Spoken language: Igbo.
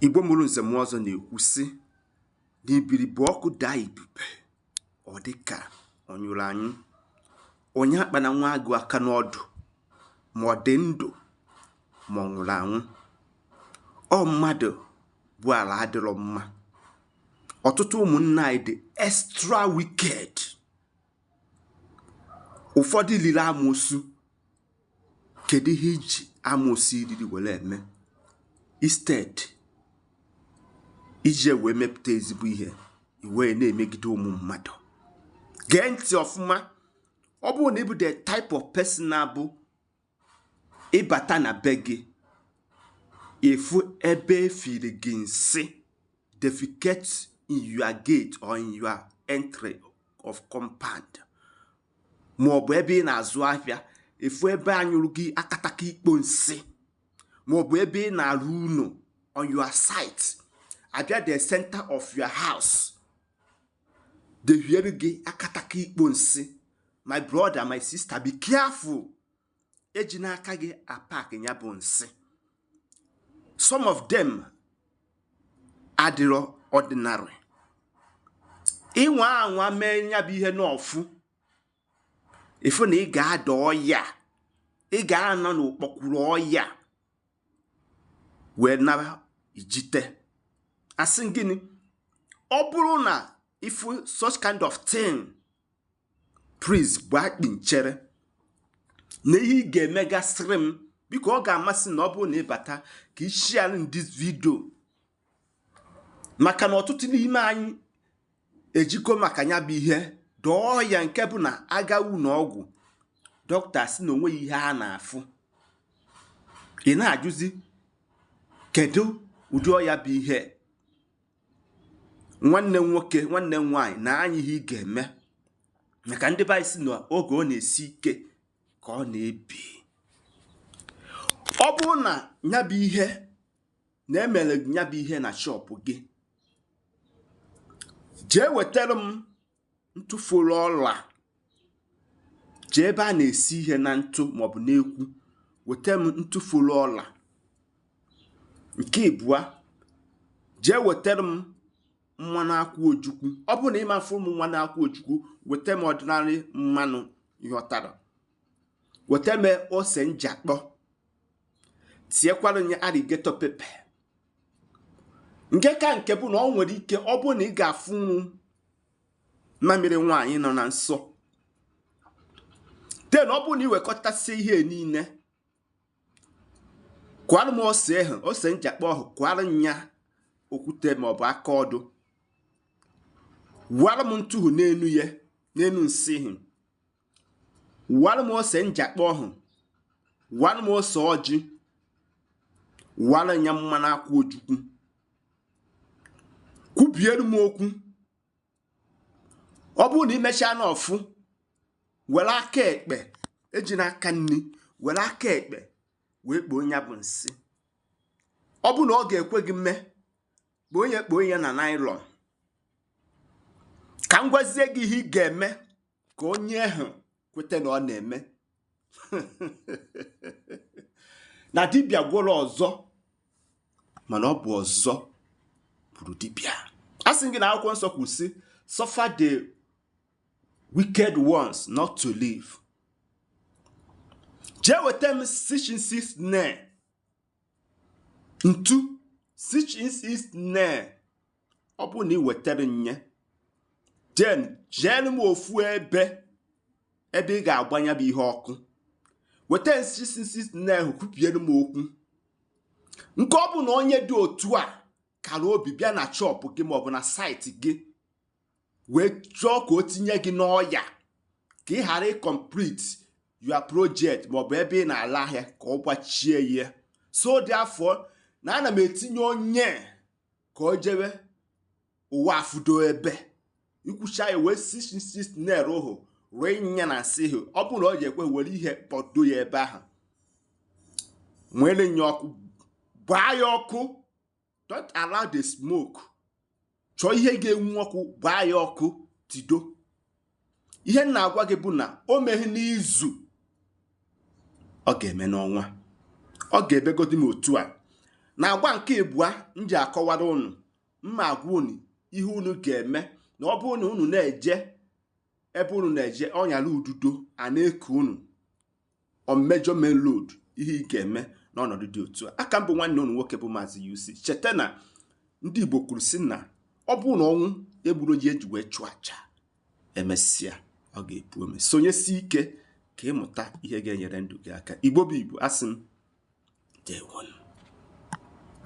igbo mụrụ nze mụọ ọzọ na-ekwu sị na ibiri bụ ọkụ daa ibube ọ dị ka ọ nyụrụ anyụ onye akpana nwa agụ aka n'ọdụ ma ọ dị ndụ ma ọ nwụrụ anwụ ọ mmadụ bụ ala adịrọ mma ọtụtụ ụmụnna anyị dị extra wicked ụfọdụ liri amoosu kedu ihe i ji amoosu i riri were eme instead iji wee mepụta ezigbo ihe i wee na-emegide ụmụ mmadụ gee ntị ọfụma ọ bụrụ na ị bụ the type of person na-abụ ị bata na be gị ị fụ ebe e firi gị nsị defecate in your gate or in your entry of compound ma ọ bụ ebe ị na-azụ ahịa ị fụ ebe a nyụrụ gị akataka ikpo nsị ma ọ bụ ebe ị na-arụ ụnọ on your site a bịa the center of your house dehiere gị akataka ikpo nsị my brother my sister be careful ejina aka gị apack nya bụ nsị some of them adịrọ ordinary ị nwaa anwa mee nya bụ ihe n'ọfụ ị fụ na ị ga-ada ọya ị ga-anọ n'ụkpọkwuru ọya wee nara ijite asị m gịnị ọ bụrụ na ị fụ such kind of thing please gbaa akpị nchere na ihe ị ga-emegasịrị m biko ọ ga-amasị na ọ bụrụ na ị bata ka ị share this video maka na ọtụtụ n'ime anyị ejigo maka nya bụ ihe daa ọya nke bụ na a gaa ụnọ ọgwụ dọkịta sị na o nweghị ihe a na-afụ ị na-ajụzi kedu ụdị ọya bụ ihe nwanne nwoke nwanne m nwaanyị nee anya ihe ị ga-eme maka ndị be anyị sị na oge ọ na-esi ike ka ọ na-ebi ọ bụrụ na nya bụ ihe na e mere nya bụ ihe na shop gị jee wetara m ntụ fọrọ ọla jee ebe a na-esi ihe na ntụ maọbụ n'ekwu wetara m ntụ fọrọ ọla nke ịbụa jee wetara m mmanụ akwụ ojukwu ọ bụrụ na ị ma-afụ mmanụ akwụ ojukwu wetara m ordinary mmanụ ị ghọtara wetara m ose njakpọ tiekwara nye alligator pepper nke ka nke bụ na ọ nwere ike ọ bụrụ na ị ga-afụnwu mamịrị nwaanyị nọ na nsọ then ọ bụrụ na i wekọtasị ihe niile kwara m ose ahụ ose njakpọ ahụ kwara nya okwute maọbụ aka ọdụ wara m ntụ ahụ n'enu ya n'enu nsị wụwara m ose njakpọ ọhụ wụwara m ose ọjị wụwara ya mmanụ akwụ ojukwu kwubiere m okwu ọ bụrụ na i mechaa na ọfụ were aka ekpe ejina aka nri were aka ekpe wee kpoo nya bụ nsị ọ bụ na ọ ga-ekwe gị mme kpoo nye kponye na nylon ka m gwazie gị ihe ị ga-eme ka onye ahụ kweta na ọ na-eme na dibịa gwọrọ ọzọ mana ọ bụ ọzọ gburu dibịa a sị gị na akwụkwọ nsọ kwuru sị suffer the wicked ones not to live jee weta m six inches nail ntu six inches nail ọ bụrụ na ị wetara nye then jeenụ m ofu ebe ebe ị ga-agba nya bụ ihe ọkụ weta six inches nail ahụ kwupiere m okwu nke ọ bụ na onye dị otu a kara obi bịa na shop gị maọbụ na site gị wee chọọ ka o tinye gị n'ọya ka ị ghara ịcomplete your project maọbụ ebe ị na-ala ahịa ka ọ gbachie ya so therefore na ana m etinye onye ka o jebe ụwa afụdo ebe i kwuchaa ya were six inches nail ahụ wee nye na nsị ahụ ọ bụrụ na ọ ji ekwe were ihe kpọdo ya ebe ahụ were nye ọkụ gbaa ya ọkụ don't allow the smoke chọọ ihe ga-enwu ọkụ gbaa ya ọkụ tido ihe m na-agwa gị bụ na o meghị n'izu ọ ga-eme n'ọnwa ọ ga-ebegodi m otu a n'agba nke ịbụa m ji akọwara unu ma agwa unu ihe unu ga-eme na ọ bụrụ na unu na-eje ebe unu na-eje ọnyala ududo a na-eku unu on major main road ihe ị ga-eme n'ọnọdụ dị otu a aka m bụ nwanne unu nwoke bụ maazị UC cheta na ndị Igbo kwuru sị na ọ bụrụ na ọnwụ egburo ji e ji wee chụọ aja emesịa ọ ga-epu ome sonyesie ike ka ị mụta ihe ga-enyere ndụ gị aka Igbo bụ Igbo asị m